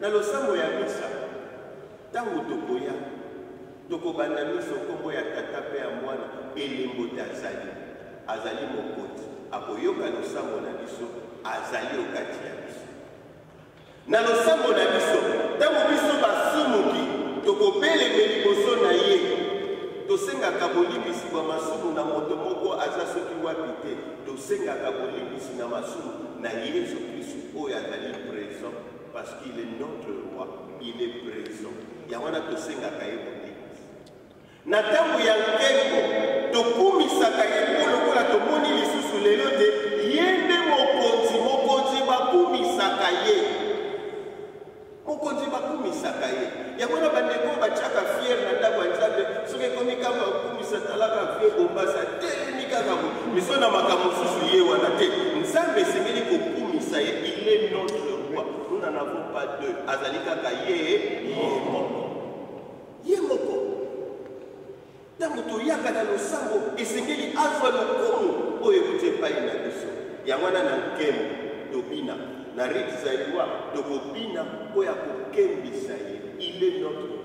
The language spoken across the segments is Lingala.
Na losambo ya misa, ntango tokoya, tokobanda miso nkombo ya Tata mpe ya Mwana, elembo te azali. Azali Mokoti, akoyoka losambo na biso, azali o kati ya biso. Na losambo na biso, ntango biso basumuki, tokobeleme liboso na ye, tosengaka bolimbisi bwa masumu na moto moko aza soki wapi te, tosengaka bolimbisi na masumu na Yesu Kristu oyo azali present Parce qu'il est notre roi, il est présent. Ya wana tosengaka ye bolingi. Na ntango ya nkembo, tokumisaka ye mpo lokola tomoni lisusu lelo te ye nde mokonzi. Mokonzi bakumisaka ye, mokonzi bakumisaka ye. Yango wana bandeko oyo batyaka fiere na ndako ya Nzambe, soki ekomi ntango ya kokumisa, talaka vie bombasi atelemi kaka miso na makambo mosusu ye wana te. Nzambe esengeli kokumisa ye, il est notre roi, nous n'en avons pas deux, azali kaka ye ye moko. Ntango toyaka na losambo, esengeli azwa lokumu oyo euti epai na biso. Yango wana na nkembo tobina na rite zaïrois, tokobina mpo ya kokembisa ye il est notre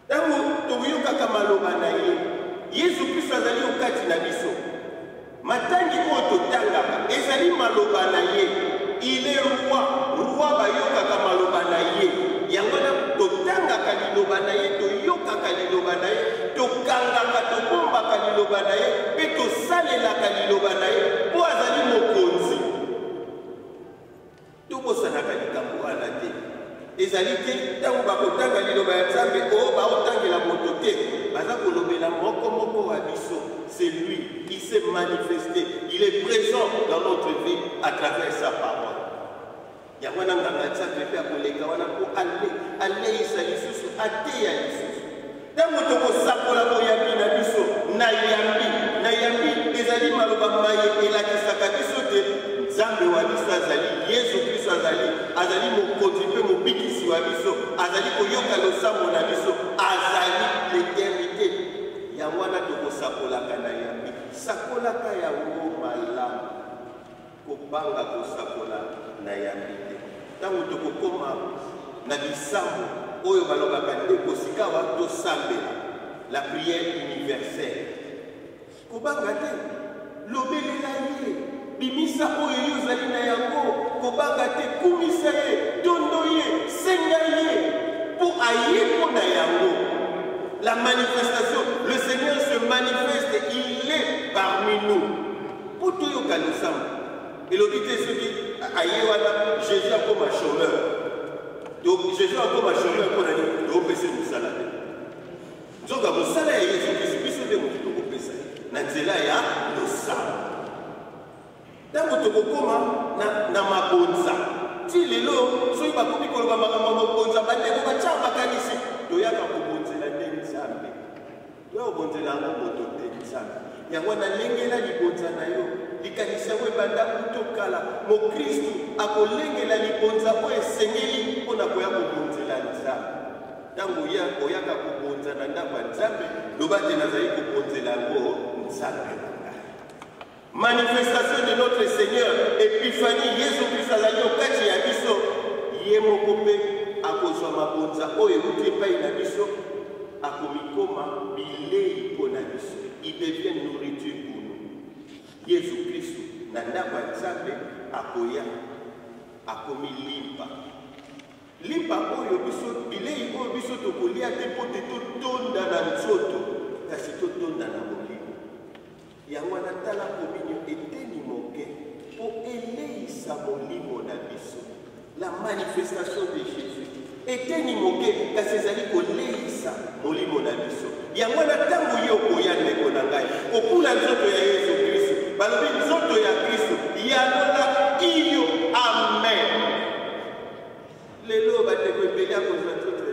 ntango tokoyokaka maloba na ye yesu kristo azali okati na biso Matangi oyo totangaka ezali maloba na ye. Il est roi, roi bayokaka maloba na ye. Yango wana totangaka liloba na ye, toyokaka liloba na ye, tokangaka, tobombaka liloba na ye, mpe tosalelaka liloba na ye mpo azali mokonzi. Tobosanaka likambo wana te. Ezali te ntango bakotanga liloba ya Nzambe o oh, baotangela moto te, baza kolobela moko moko wa biso. C'est lui qui s'est manifesté, il est présent dans notre vie à travers sa parole. yango wana nganga nzambe mpe akoleka wana mpo aleisa lisusu ateya lisusu Ntango tokosakola boyambi na biso, nayambi, nayambi ezali maloba maye elakisaka biso te Nzambe wa biso azali, Yesu Kristo azali, azali mokonzi mpe mobikisi wa biso, azali koyoka losambo na biso, azali l'eternité. Yango wana tokosakolaka na yambi, sakolaka yango malamu. Kobanga kosakola na yambi te. Ntango tokokoma na bisambo oyo balobaka ndeko sikawa tosambela la prière universelle, kobanga te, lobelela ye, bimisa oyo yo ozali na yango, kobanga te, kumisa ye, tondo ye, senga ye mpo aye mpo na yango. La manifestation, le Seigneur se manifeste, il est parmi nous. Mpo toyoka losambo elobi te soki aye wana jésus akoma chômeur donc jésus akoma chômeur mpo na nini toopesa mosala te nzoka mosala ya yesu kristu biso nde moto tokopesa ye na nzela ya losambo ntango tokokoma na mabonza ti lelo soki bakomi koloba makambo ya mabonza bandeko batya makanisi toyaka kobonzela nde nzambe Yo obonzela yango moto te, Nzambe. Yango wana lengela libonza na yo. Likanisi yango ebanda kuto kala. Mokristu akolengela libonza oyo esengeli mpo na koya kobonzela Nzambe. Ntango oyaka kobonza na ndako ya Nzambe, loba te nazali kobonzela yango Nzambe. Manifestation de notre Seigneur Epiphanie Yesu Kristo azali okati ya biso ye moko mpe akozwa mabonza oyo ewuti epai na biso akomikoma bilei mpo na biso il devient nourriture pour nous Yesu Kristo na ndako ya Nzambe akoya akomi limpa limpa oyo biso bilei oyo biso tokolia te mpo te totonda na nzoto kasi totonda na Yango wana tala kominyo eteni moke mpo eleisa molimo na biso. La manifestation de Jésus eteni moke kasi ezali koleisa molimo na biso. Yango wana ntango yo okoya ndeko na ngai kokula nzoto ya Yesu Kristo, balobi nzoto ya Kristo yalola iyo amen. Lelo bandeko ebele ya kozwa nzoto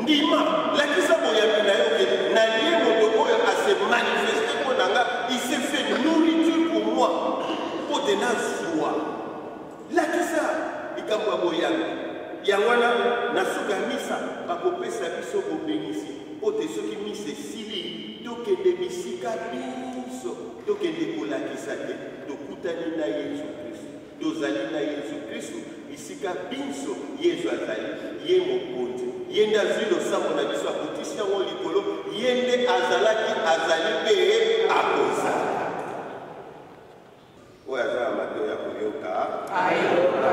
ndima lakisa boyambi na yo ke nalie moto oyo ase manifeste mpo na nga ise fait nourriture pour moi mpo te nazwa lakisa likambo ya boyambi yango wana na suka misa bakopesa biso bobenisi mpo te soki misa esili tokende bisika biso tokende kolakisa te Tokutani na Yesu Kristu. Tozali na Yesu Kristu bisika binso Yesu azali. Ye mokonzi. Ye nde azwi losambo na biso, akotisi yango likolo. Ye nde azalaki, azali mpe akozala. Oyo aza na mato ya koyoka ayoka.